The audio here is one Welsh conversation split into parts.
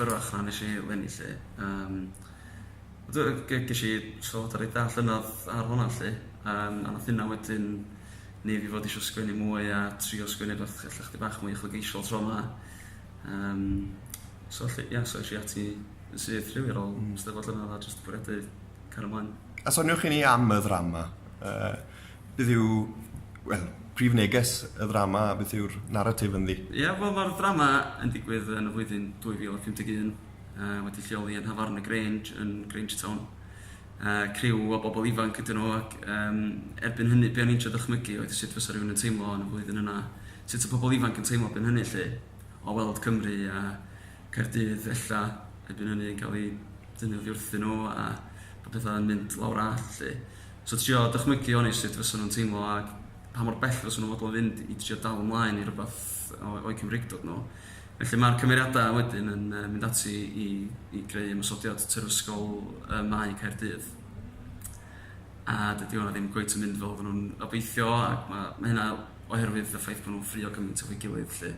Yr ochr nes i lenni 'lly yym do ge- gesh i sylwada reit dda llynedd ar honna 'lly yym a nath hynna wedyn neu' fi fod isio sgwennu mwy a trio sgwennu rwbath ella chydig bach mwy uchelgeisiol tro 'ma yym so 'lly ia so esh i ati yn syth rili ar ôl 'Steddfod llynedd a jyst 'di bwriadu cario mlaen. A soniwch i ni am y ddrama yy Beth yw, wel, prif neges y ddrama a beth yw'r naratif ynddi? Ie, wel, mae'r ddrama yn digwydd yn y flwyddyn 2051, uh, wedi lleoli yn Hafarn y Grange, yn Grange Town. Uh, criw o bobl ifanc ydyn nhw ac um, erbyn hynny, be o'n i'n trio dychmygu oedd sut fysa rhywun yn teimlo yn y flwyddyn yna, sut y pobl ifanc yn teimlo erbyn hynny lle, o weld Cymru a Caerdydd ella erbyn hynny yn cael ei dynnu oddi wrthyn nhw a bod pethau yn mynd lawr all lle. So trio dychmygu o'n i sut fysa nhw'n teimlo ac pa mor bell fysa nhw'n fodlon fynd i drio dal ymlaen i rywbeth o'u Cymreictod nhw. Felly mae'r cymeriadau wedyn yn mynd ati i i greu ymosodiad terfysgol ym Mae Caerdydd. A dydy hwnna ddim cweit yn mynd fel oedden nhw'n obeithio ac mae mae hynna oherwydd y ffaith bod nhw'n ffrio gymaint efo'i gilydd 'lly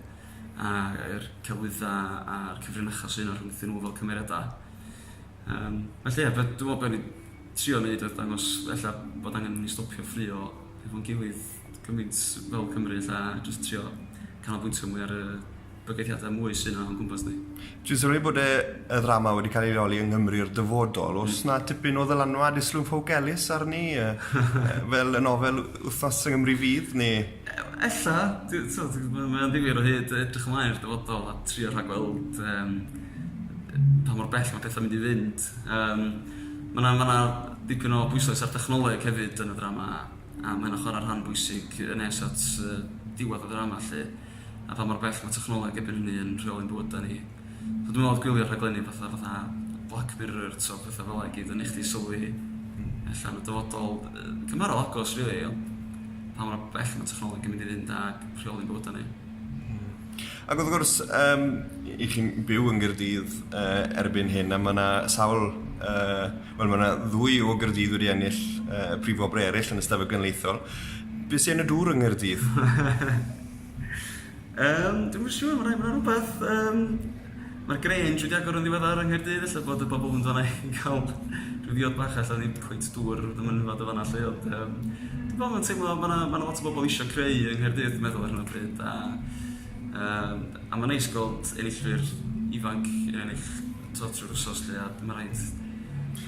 a yr celwyddau a'r cyfrinachau sy' 'na rhwngthyn nhw fel cymeriadau. Yym felly ie be- dwi'n meddwl be o'n i trio neud oedd dangos ella bod angen i ni stopio ffrio hefo'n gilydd gymaint fel Cymru ella a jyst trio canolbwyntio mwy ar y bygythiadau mwy sy'n o'n gwmpas ni. Dwi'n sylwi bod y y ddrama wedi cael ei leoli yng Nghymru'r dyfodol. Oes 'na tipyn o ddylanwad Islwyn Ffowc Elis arni yy fel y nofel Wythnos yng Nghymru Fydd neu...? Ella, dwi t'od mae mae o'n ddifyr o hyd edrych ymlaen i'r dyfodol a trio rhagweld yym pa mor bell mae pethau'n mynd i fynd. Yym ma' 'na ma' 'na dipyn o bwyslais ar dechnoleg hefyd yn y ddrama a ma' hynna'n chwarae rhan bwysig yn nes at yy diwedd y ddrama 'lly a pha mor bell ma' technoleg erbyn hynny yn rheoli'n bywyda ni. So dwi me'wl o'dd gwylio rhaglenni fatha fatha Black Mirror t'o' petha fela i gyd yn neu' chdi sylwi ella yn y dyfodol yy cymharol agos rili ond pa mor bell ma' technoleg yn mynd i fynd ag rheoli'n bywyda ni. Hmm. Ac wrth gwrs, um, i chi'n byw yn Gyrdydd uh, erbyn hyn, a mae yna sawl, uh, wel mae yna ddwy o Gyrdydd wedi ennill uh, prif obrau eraill yn y stafell gynleithol. Be sy'n yn y dŵr yng Ngyrdydd? um, Dwi'n siŵr, mae'n rhaid bod rhywbeth um, Mae'r Grange wedi agor yn ddiweddar yng Nghaerdydd, ella bod y bobl yn dod yna i gael rhyw ddiod bach ella, nid cweit dŵr y mynwad yn fan'na 'lly ond yym dwi'n gweld mae'n teimlo ma' 'na ma' 'na lot o bobl isio creu yng Nghaerdydd dwi'n meddwl ar hyn o bryd a yym a ma'n neis gweld enillwyr ifanc yn ennill t'wod trwy'r wsos 'lly a ma' raid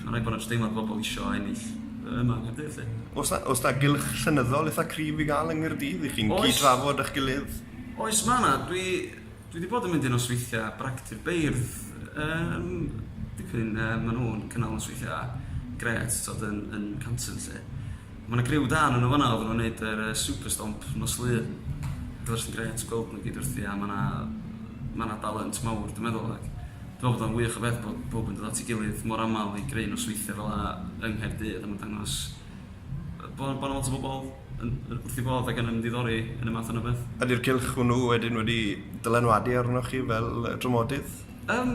ma' raid bo' 'na jyst deimlad bobl isio ennill yy yma yng Nghaerdydd 'lly. O's 'na o's 'na gylch llenyddol itha cryf i ga'l yng Nghaerdydd i chi'n cyd-drafod â'ch gilydd? Oes ma' 'na dwi Dwi 'di bod yn mynd i nosweithia bragdy'r beirdd yym dipyn yy ma' nhw'n cynnal nosweithia grêt t'od yn yn Canton 'lly. Ma' 'na griw da o' nhw fan'na oddan nhw'n neud yr yy Super Stomp nos Lun ac o'dd o jyst yn grêt gweld nhw i gyd wrthi a ma' 'na ma' 'na dalent mawr dwi'n meddwl ac dwi'n meddwl bod o'n wych o beth bod powb yn dod at ei gilydd mor amal i greu nosweithia fel'a yng Nghaerdydd a ma'n dangos yy bo' bo' 'na lot o bobol yn wrth ei fodd ac yn ymddiddori yn y math yna beth. Ydy'r cylch hwnnw wedyn wedi dylanwadu arnoch chi fel dramodydd? Um,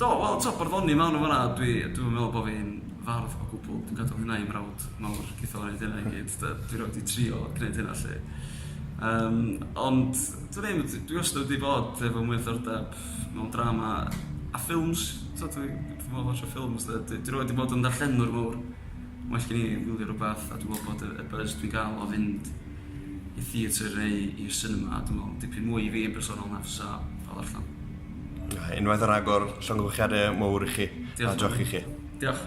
do, wel, to, barddoni mawn o fanna, dwi, dwi'n meddwl bod fi'n fardd o gwbl, dwi'n gadw hynna i mrawd mawr, geithio o'n ei dyna i gyd, dwi'n rhaid i trio gwneud hynna lle. Um, ond, dwi'n ddim, dwi wastad wedi bod efo mwy o ddordeb mewn drama a ffilms, to, dwi'n meddwl bod ffilms, dwi'n rhaid i bod yn darllenwr mawr, Mae well gen i wylio rhywbeth a dwi'n meddwl bod y y buzz dwi'n gael o fynd i theatr neu i'r cinema dwi'n meddwl dipyn mwy i fi yn bersonol na fysa o ddarllen. Unwaith ar agor, llongyfarchiade mowr i chi. Diolch. A diolch i chi. Diolch.